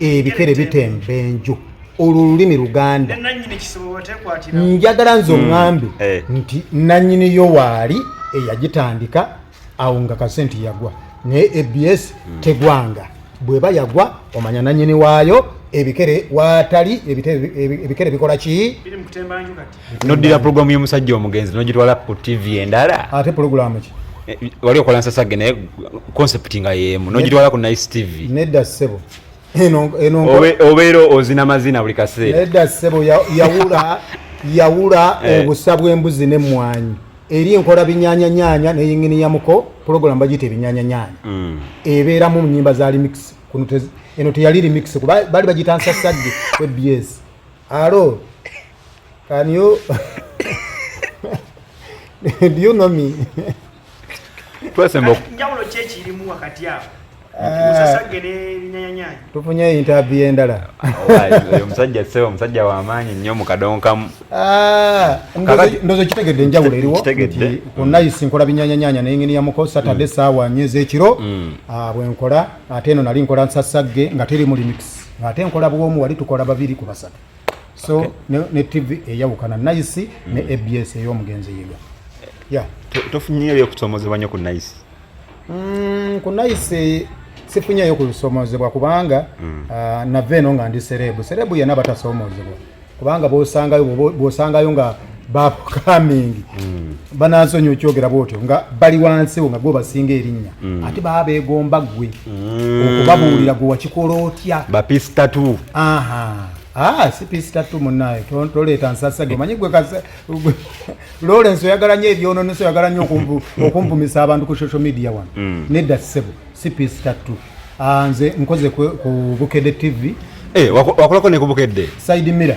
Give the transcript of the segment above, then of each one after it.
ebikere bitemba enju olwo olulimi luganda njagala nze hmm. oŋambe eh. nti nanyini yo waali eyagitandika awo nga kasenti yagwa naye abs hmm. tegwanga bweba yagwa omanya nanyini waayo ebikere watali ebikere bikola ki noddira pulogulaamu y'omusajja omugenzi nogitwala ku tv endala ate pulogulaamu ki eh, wali okola nsasage naye concept nga yeemu nogitwala ku nice tv nedda ssebo obeera ozina mazina buli kaseera nedda ssebo yawula yawula eh. obusa bw'embuzi n'emmwanyi eri enkola binyanyanyaanya neyingini ya muko pulogulaamu bagiyita ebinyanyanyaanya mm. ebeeramu mu nyimba za remix eno teyali remix kuba bali bagiyita nsasage webs alo Can you do you know me? Twesemba njawulo ki ekirimu wakati awo eh, tufunye interview endala oyo musajja sebo omusajja wamaanyi nnyo mu kadongo kamu ah, ndozo kitegedde enjawulo eriwo onayisi nkola binyanyanyanya nengeni yamuko saturday mm. saawa nyo ezekiro mm. ah, bwenkola ate eno nali nkola nsasagge nga teri mulimix ate nkola bwomu wali tukola babiri ku basatu so ne, ne tv eyawukana nice mm. ne abs eyomugenzi yiga yeah. tofunyeyo byokusomozebwa nyo ku nice mm, ku nice sifunyeyo kusomozebwa kubanga mm. uh, ah, nave eno nga ndi serebu serebu yena batasomozebwa kubanga bosangayo bosangayo nga bakukamingi mm. banansonyi okyogera bwotyo nga bali wansiwo nga gwe basinga erinnya mm. ate baba begomba gwe mm. okubabuulira gwe wakikola otya bapisitatu ah, si pisitatu munaye toleeta nsasage manyi gwe lawrence oyagala nyo ebyononeso oyagala nyo okumpumisa abantu ku social media wano nedda sebo si pisitatu ah, nze nkoze ku bukede tv eh, wakolako nekubukedde saidi mira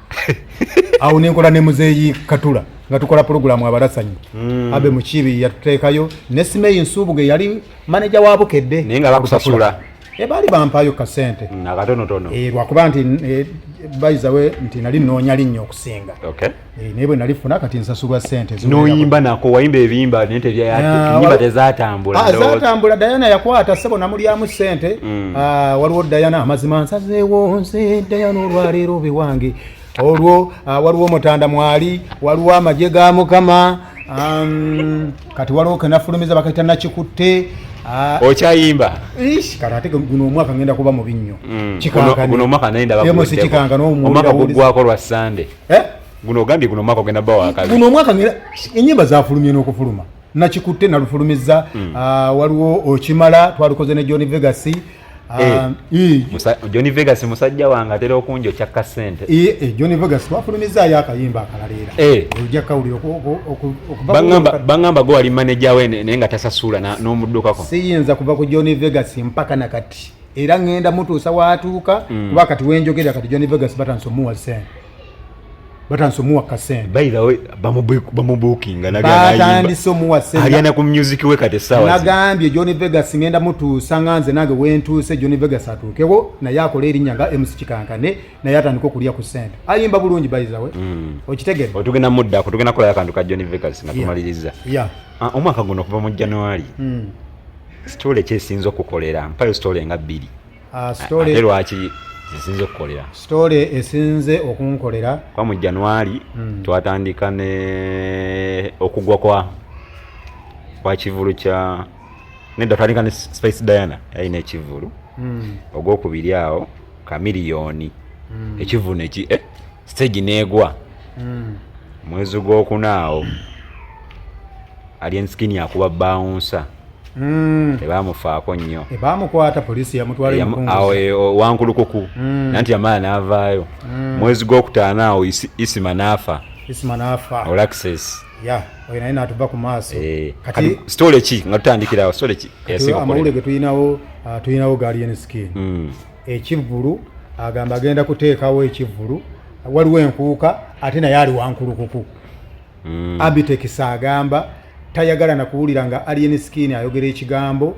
awo nenkola ne muzeeyi katula nga tukola pulogulaamu abalasanyi mm. abe mukiibi yatuteekayo ne simeyi nsuubuge yali maneja wa bukedde naye nga bakusasula eh, baali bampaayo kasente mm, akatonotono eh, lwakuba nti eh, bayizawe nti nali noonya linnya okusinga naye bwe nali funa kati nsasulwa sente noyimba nako wayimba ebiyimba naye tebyayimba ah, tezatambula ah, zatambula dayana yakwata sebo namulyamu sente mm. mm. ah, waliwo dayana amazima nsazeewo nze dayana olwaleero biwange olwo ah, waliwo mutanda mwali waliwo amagye ga mukama um, kati waliwo kenafulumiza bakaita nakikutte Ah. okyayimba kati ate guno omwaka ngenda kuba mubi nnyo mm. kikankano omwaka naye ndabomwaka gugwako lwa sande eh? guno ogambye guno omwaka ogenda bawa kabi guno omwaka enyimba zafulumye n'okufuluma nakikutte nalufulumizza mm. uh, waliwo okimala twalukoze ne john vegas Ah, eh, eh. john vegas musajja wange atera okunja okyakka sente eh, john vegas twafulumizaayo akayimba akalaleera ojja kawulira baŋamba gwe wali maneja we naye nga tasasuula n'omuddukako siyinza kuva ku john vegas mpaka na kati era ŋenda mutuusa watuuka mm. kuba kati wenjogera kati john vegas batansi omuwa sente batandise omuwa kasente by the way bamubukinga batandise omuwa sentealyana ku music we kati sawa nagambye john vegas ngenda mutuusa nga nze nange wentuuse john vegas atuukewo naye akola erinnya nga mc kikankane naye atandika okulya ku sente ayimba bulungi by the way mm. okitegere otugenda muddako tugenda kolayo akantu ka john vegas nga tumaliriza yeah. yeah. uh, omwaka guno okuva mu january mm. story kyesinza okukolera mpayo story nga bbiri Ah, ate lwaki zisinze okukolera sitole esinze okunkolera kuba mu januari hmm. twatandika ne okugwa kwa kwa kivulu kya nedda twatandika ne spice diana yalina ekivulu hmm. ogwokubiri awo kamiliyoni hmm. ekivulu neki eh? stage negwa mm. mwezi gwokunaawo alien skin akuba bawunsa Mm. tebamufaako nnyo tebamukwata polisi yamutwalawankulukuku e, wankulukuku mm. nanti yamala n'avaayo mm. mwezi gwokutaano awo isima n'afa isima n'afa olaxes ya oyo naye natuva ku maaso eh, kati sitole ki nga tutandikirawo sitole ki amawulire ge tulinawo ah, tulinawo galien skin mm. ekivvulu agamba agenda kuteekawo ekivvulu waliwo enkuuka ate naye ali wankulukuku mm. abitex agamba tayagala nakuwulira nga alien skin ayogera ekigambo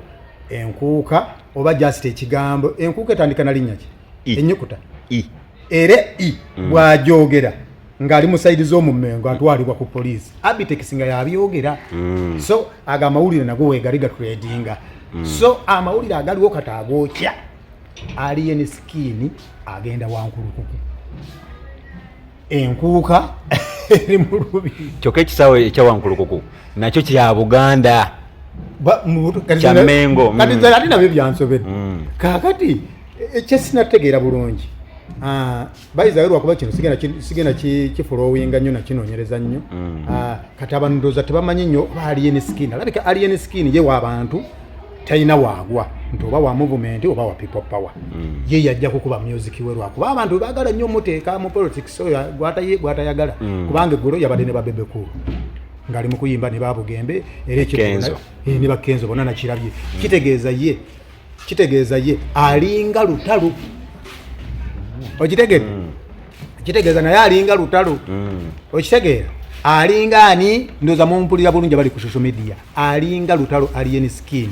enkuuka oba just ekigambo enkuuka etandika nalinnya ki enyukuta era i mm. bwajogera ng'ali mu sayidi z'omu Mmengo atwalibwa ku poliisi Abitex nga yabyogera mm. so ago amawulire nago weegali gatredinga mm. so amawulire agaliwo kati agookya alien skin agenda wankulukuku enkuuka eri mu lubi kyokka ekisaawe ekya wankulukuku nakyo kya buganda kyamengo kati mm. ate nabyo byansobedde mm. kaakati ekyesinategeera eh, bulungi ah, bayizayo lwakuba kino sigenda kifulowinga nnyo nakinonyereza nnyo mm. ah, kati abantu ndooza tebamanyi nnyo oba alien skin alabika alien skin ye waabantu talina waagwa nti oba wa movement oba wa people power mm. ye yajja kukuba music we lwakuba abantu bagala nnyo muteeka mu politics oyo gwatayagala mm. kubanga eggulo yabadde ne babebekulu ngaali mukuyimba ne babugembe era ekyo ne bakenzo bona nakirabye kitegeeza ye kitegeeza ye alinga lutalo okitegere mm. kitegeeza naye alinga lutalo mm. okitegeera alinga ani ndoza mumpulira bulungi abali ku social media alinga lutalo alien skin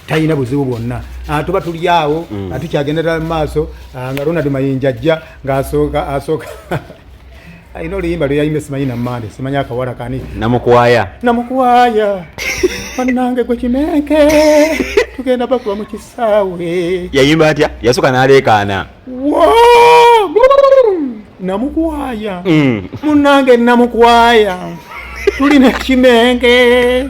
talina buzibu bwonna ah, tuba tuli awo mm. ah, tukyagendera mu maaso ah, nga ronald mayinja ajja ngaasooka asooka alina oluyimba lweyayimba simanyi namande simanyi akawala kani namukwaya namukwaya banange gwe kimenke tugenda bakuba mu kisaawe yayimba atya yasuka naleekaana namukwaya mm. munange namukwaya tuli nekimenke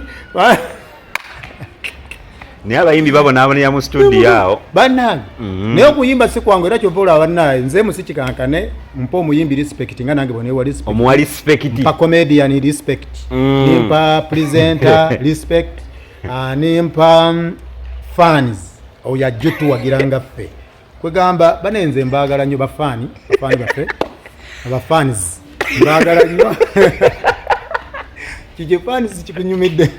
naye abayimbi babonaabonera mu studio awo banange mm-hmm. naye okuyimba si kwangu era kyova olaba banaye nze musikikankane mpa omuyimbi respect nga nange bonewa respect omuwa respect mpa comedian respect mm. nimpa presenter respect ah, nimpa mm, fans oyo ajja otuwagira nga ffe kwegamba bane nze mbagala nyo bafani bafani bafe abafans mbagala nyo kije fans kikunyumidde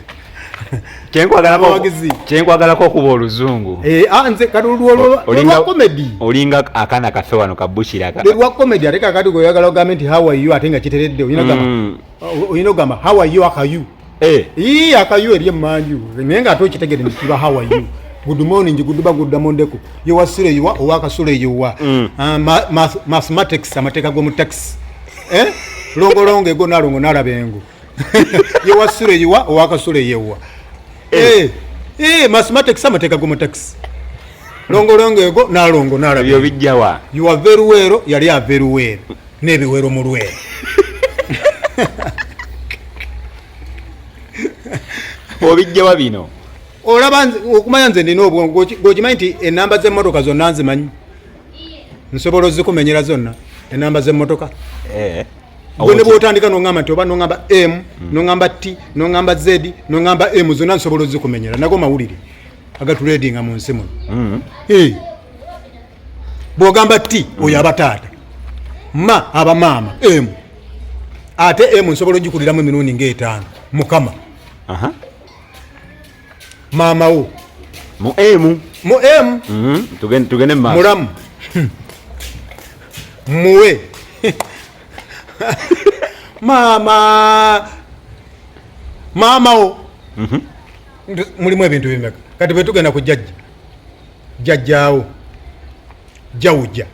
kyenkwagalako okuba oluzungu eh, ah, nze kati olwa komedi olinga akaana kafe wano kabukiraolwa komedi ate kakati gweoyagala ogambe nti how are you ate nga kiteredde olina ogamba mm. how are you akayu Eh. Ii akayu eri emanju naye nga ate okitegede nti kiba how are you good morning good ba good morning deko yo wasire yo owa kasule yo wa mm. ah, mathematics amateka go mu tax eh longo longo ego na longo na labengo yo wasire yo wa owa kasule yo wa eh eh, eh mathematics amateka go mu tax longo longo ego na longo na labengo yo bijawa you are very well yali a very well n'ebiwero mu lwe obijjawa bino olaba okumanya nze nina obwongo gokimanyi nti enamba zemotoka zonna nzimanyi nsobola ozikumenyera zonna enamba zemotoka eh, gwe ne bwotandika noamba nti oba noamba m hmm. noamba t noamba z noamba m zonna nsobola ozikumenyera nago mawulire agatuledinga mu nsi muno hmm. eh. bwogamba ti oyo abataata ma abamaama emu ate emu nsobola ogikuliramu emirundi ngaetaano mukama maama wo mu emu mu emu mhm. tugende mulamu muwe maama maama wo mhm. mulimu ebintu bimeka kati bwetugenda ku jajja jjajjaawo jawuja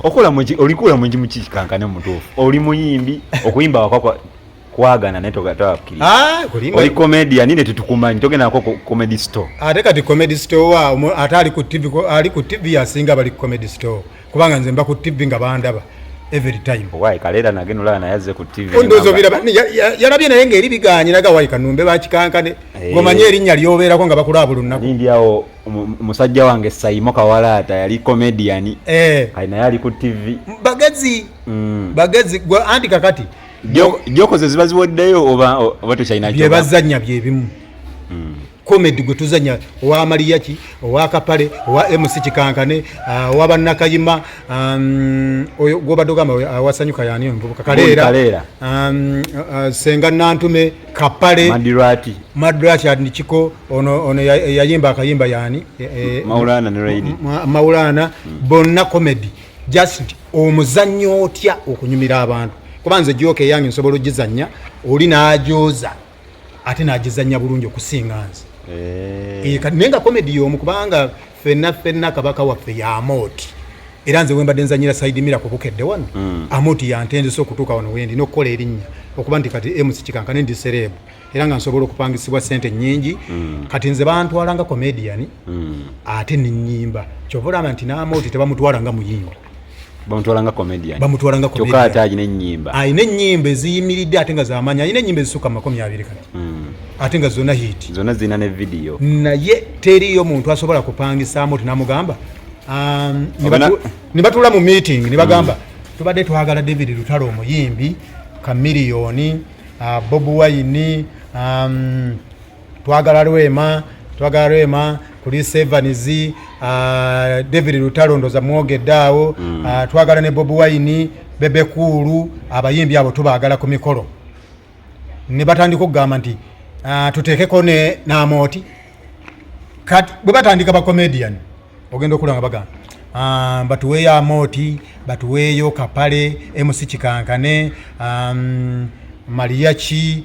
okola muki olikuula muki mukikankane mutuufu oli muyimbi okuyimba wakwakwa kwagana naye togatawakiri ah, oli komedia nine tetukumanyi togenda nako comedy store ate kati comedy store wa ate ali ku tv ali ku tv asinga bali ku comedy store kubanga nze mba ku tv nga bandaba every time why kalera nage nula na yaze ku tv ondo zo bila bani yarabye naye ngeri biganye naga why kanumbe bakikankane hey. Eh. gomanye erinya lyobera ko nga bakula abulu nako ndi awo musajja wange sayimo kawala ata yali comedian eh hey. kaina yali ku tv bagazi mm. bagazi gwa anti kakati joko zezibazi woddeyo oba oba to china bye bazanya bye bimu hmm. comedy gwe tuzanya owa maliyaki owa kapale owa mc kikankane ah, owa bannakayima um, oyo gwobadde ogamba awasanyuka yani omuvubuka kaleera um, ah, senga nantume kapale madrati adnikiko ono yayimba akayimba yani e, e, maulana hmm. bonna comedy just omuzannya otya okunyumira abantu kuba nze gyoka eyange nsobola ogizannya oli n'agyoza ate nagizanya bulungi okusinga nze eh. eh, naye nga komedi yomu kubanga fenna fenna kabaka waffe yamooti era nze wembadde nzanyira saidi mira kubukedde wano hmm. amooti yantenzesa okutuuka wano wendi nokukola erinnya okuba nti kati emusi kikankane ndi sereebu era nga nsobola okupangisibwa sente nyingi hmm. kati nze bantwala nga komediyani hmm. ate nenyimba kyova olaba nti namooti tebamutwala nga muyimbi bamutwalanga comedian bamutwalanga comedian kyokka ate alina ennyimba alina ennyimba eziyimiridde ate nga zamaanyi alina ennyimba ezisukka mu makumi abiri kati hmm. ate nga zonna hit zonna zirina ne vidiyo naye teriyo muntu asobola kupangisaamu ti namugamba um, ne batuula mu meeting ne bagamba hmm. tubadde twagala david lutalo omuyimbi kamiliyoni uh, bob wine um, twagala lwema twagala lwema kuli sevens uh, david lutalo ndoza mwogedde awo mm. uh, twagala ne bob wine bebekuulu abayimbi abo tubaagala ku mikolo ne batandika okugamba nti uh, tuteekeko ne namooti kati bwe batandika bacomedian ogenda okulanga bagamba um, batuweeyo amooti batuweeyo kapale emusi kikankane um, mariachi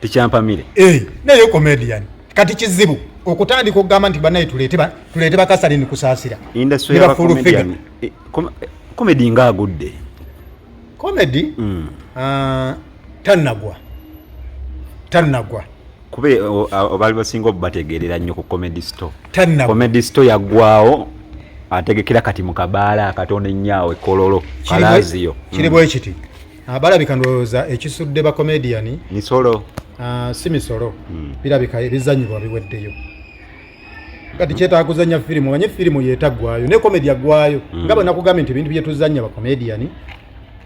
tikyampamire eh, naye comedian kati kizibu okutandika okugamba nti banaye tuleete bakasalini kusaasira komedi eh, nga agudde komedi hmm. ah, tanagwa tanagwa kuba eh, baali basinga obubategeerera nnyo ku comedy store comedy store yagwawo ategekera kati mu kabaala akatono ennyo awo ekololo kalaziyo kiri bwekiti hmm. Ah, balabika ndowooza ekisudde bakomediyani misolo ah, si misolo hmm. birabika ebizanyibwa biweddeyo kati kyetaaga kuzanya firimu omanye firimu yetagwayo ne komedi agwayo hmm. nga bwenakugambye nti ebintu byetuzanya bakomediyani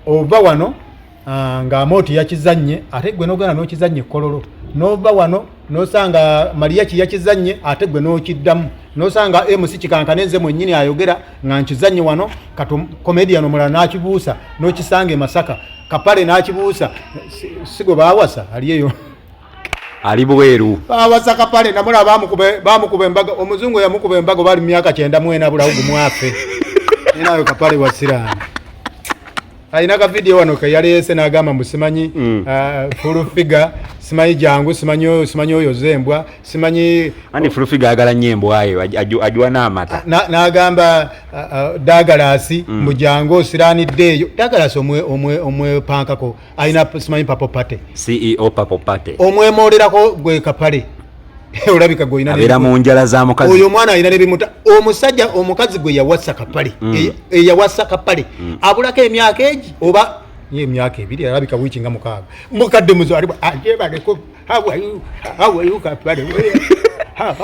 ova wano ah, nga amooti yakizannye ate gwe nogana nokizannye ekololo nova wano nosanga maliya kiyakizannye ate gwe nokiddamu nosanga MC kikankane nze mwennyini ayogera nga nkizannye wano kato comedian omulala n'akibuusa n'okisanga e Masaka kapale n'akibuusa sigo baawasa ali eyo ali bweru baawasa kapale namula baamukuba embaga omuzungu eyamukuba embaga bali mu myaka kyenda mwena bulawugu mwafe enayo kapale wasiraani alina ka video wano ke yaleese n'agamba mbu simanyi mm. uh, full figure simanyi jangu simanyi simanyi oyo zembwa simanyi ani full figure agala nyo embwa eyo ajuwa n'amata n'agamba uh, uh, dagalasi mm. mbu jangu osiranidde eyo dagalasi omwepankako alina simanyi papo pate ceo papo pate omwemolerako gwe kapale olabika gwolina abeera mu njala za mukazi oyo omwana alina nebimuta omusajja omukazi gwe yawasa kapale mm. e, e, yawasa kapale mm. abulako emyaka egi oba ye emyaka ebiri alabika wiiki nga mukaaga mukadde muzalibwa ajebaleko hawayu kapale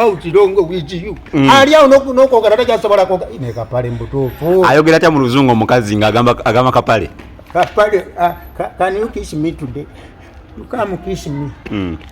autirongo wijiyu mm. ali awo nokwogera takyasobola kwoga ne kapale mbutuufu ayogera atya mu luzungu omukazi nga agamba kapale kapale ah, can you kiss me today you come kiss me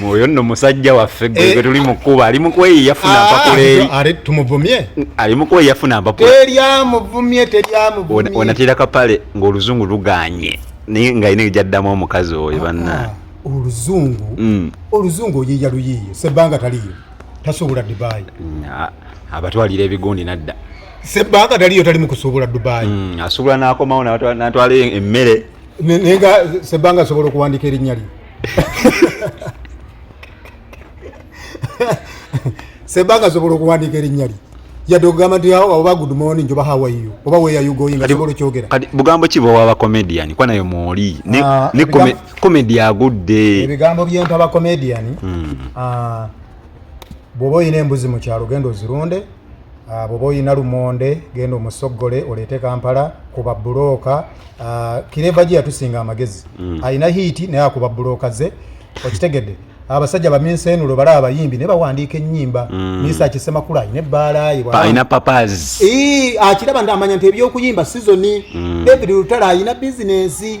mwoyo nno musajja waffe gwe eh. tuli mukuba ali mukweyi yafuna ah, mpakuleeri are tumuvumye ali mukweyi yafuna mpakula teryamuvumye teryamuvumye onatera kapale ng'oluzungu luganye naye nga ine gyaddamu omukazi oyo ah, banna ah, oluzungu mm. oluzungu oyiya luyiiyo sebbanga taliyo tasobola dubai mm, abatwalira ebigundi nadda sebbanga taliyo tali mukusobola dubai mm, asobola nakomawo natwala emmere naye nga sebanga asobola okuwandika erinnya lye sebanga asobola okuwandika erinnya lye yadde okugamba nti oba good morning oba how are you oba where are you going nga kibola okyogera kati bugambo ki bwe waba comedian kwa nayo mwoli ne ah, comedy agudde ebigambo byentaba comedian hmm. ah, bwoba olina embuzi mu kyalo genda ozirunde ah, bwoba olina lumonde genda omusoggole oleete kampala kuba bulooka ah, kireva gye yatusinga amagezi mm. alina hiiti naye akuba bulooka ze okitegedde abasajja baminseenulo bala abayimbi ne bawandiika ennyimba mm. misa akisemakula alina ebbaalayealina papaz akiraba nti amanya nti ebyokuyimba sizoni mm. david lutala alina bizinensi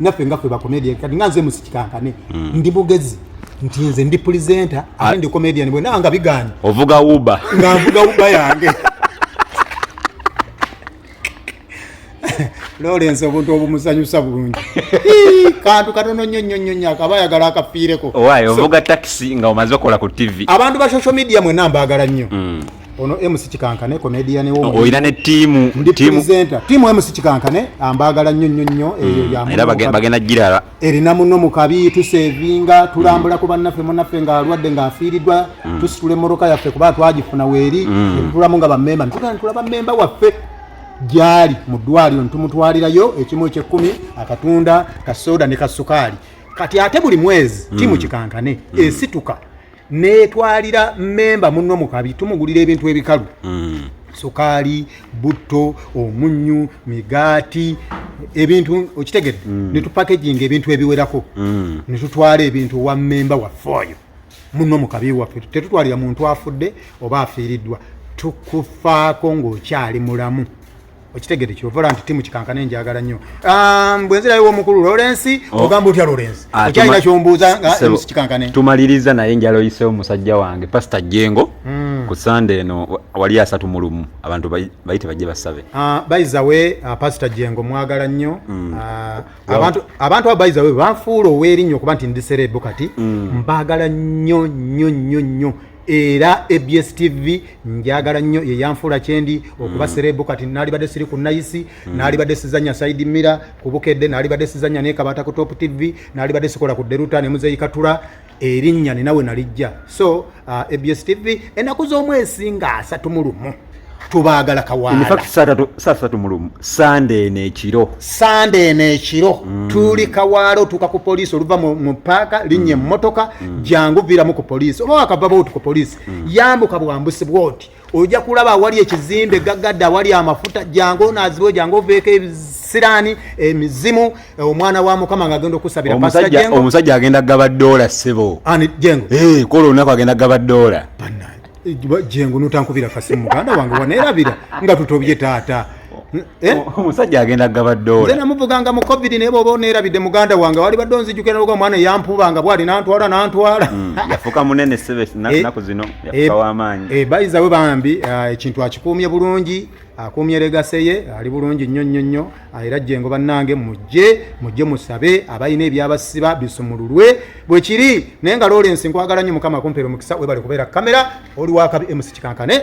naffe nga ffe bakomedian kati nga nze musikikankane mm. ndi mugezi nti nze ndi presenter ah. ate ndi comedian bwe nanga biganye ovuga uba nga nvuga uba yange lawrence obuntu obumusanyusa bulungi kantu katono nnyo nnyo nnyo nnyo akaba ayagala akafiireko owaye ovuga takisi nga omaze okola ku tv abantu ba social media mwena mbaagala nnyo mm. ono MC Kikankane comedian wo oh, oyina ne team team presenter team MC Kikankane ambagala nnyo nnyo nnyo mm. eyo ya era bagenda jirara erina muno mukabi tusevinga tulambula mm. ku banaffe munaffe nga alwadde nga afiiridwa mm. tusitule moroka yaffe kuba twagifuna weeri mm. tulamu nga bamemba ntugana tulaba memba waffe gyali mu ddwaliro ntumutwalirayo ekimu ekyekumi akatunda kasoda ne kasukaali kati ate buli mwezi mm. timu kikankane mm. esituka netwalira memba munno mukabi tumugulira ebintu ebikalu mm. sukaali butto omunyu migaati ebintu okitegedde mm. netupakeginga ebintu ebiwerako mm. netutwala ebintu wa memba waffe oyo munno mukabi waffe tetutwalira muntu afudde oba afiiriddwa tukufaako ng'okyali mulamu okitegede kyovola nti timu kikankana enjagala nnyo um, bwenzirayo womukulu lorensi oh. ogamba otya lorensi ah, okyalina kyombuuza nga emusi kikankane tumaliriza naye njala oyisewo musajja wange pasita jengo hmm. ku sande eno wali asatu mu lumu abantu bayite bajje basabe ah, bayizawe ah, pasita jengo mwagala nnyo hmm. abantu abo bayizawe banfuula ow'erinnyo okuba nti ndisereebu kati hmm. mbagala nnyo nnyo nnyo nnyo era abs tv njagala nnyo yeyanfuula kyendi okuba mm. serebu kati nalibadde siri ku nayisi mm. nalibadde sizanya saidi mira ku bukedde nalibadde sizanya nekabata ku top tv nalibadde sikola ku deruta nemuzeyikatula erinnya ninawe nalijja so uh, abs tv enaku z'omwezi nga asatu mu lumu tubaagala kawaalasaasatu mulumu sande eno ekiro sande eno ekiro mm. tuli kawaala otuuka ku poliisi oluva mu paaka linnya emmotoka mm. mm. jangu viramu ku poliisi oba wakava bwoti ku poliisi mm. yambuka bwambusi bwoti ojja kulaba awali ekizimbe gaggadde awali amafuta jangu onaazibwe jangu oveeko ebisiraani emizimu eh, omwana wa mukama nga agenda okusabira omusajja agenda kugaba doola ssebo jengo eh, kola olunaku agenda kugaba doola jengo notankubira kasimu muganda wange wanerabira nga tutobye taata eh? omusajja agenda gaba dola namuvuganga mu covid naye bwoba onerabidde muganda wange wali badde onzijukira lwoga omwana eyampubanga bwali nantwala nantwala hmm, yafuka munene sebe eh, naku zino yafuka eh, wamaanyi bayizawe bambi ekintu akikuumye bulungi akuumye legase ye ali bulungi nnyo nnyo nnyo era jengo bannange mujje mujje musabe abalina ebyabasiba bisumululwe bwe kiri naye nga lawrence nkwagala nnyo mukama kumpera omukisa webale kubeera kamera oli wakabi emusi kikankane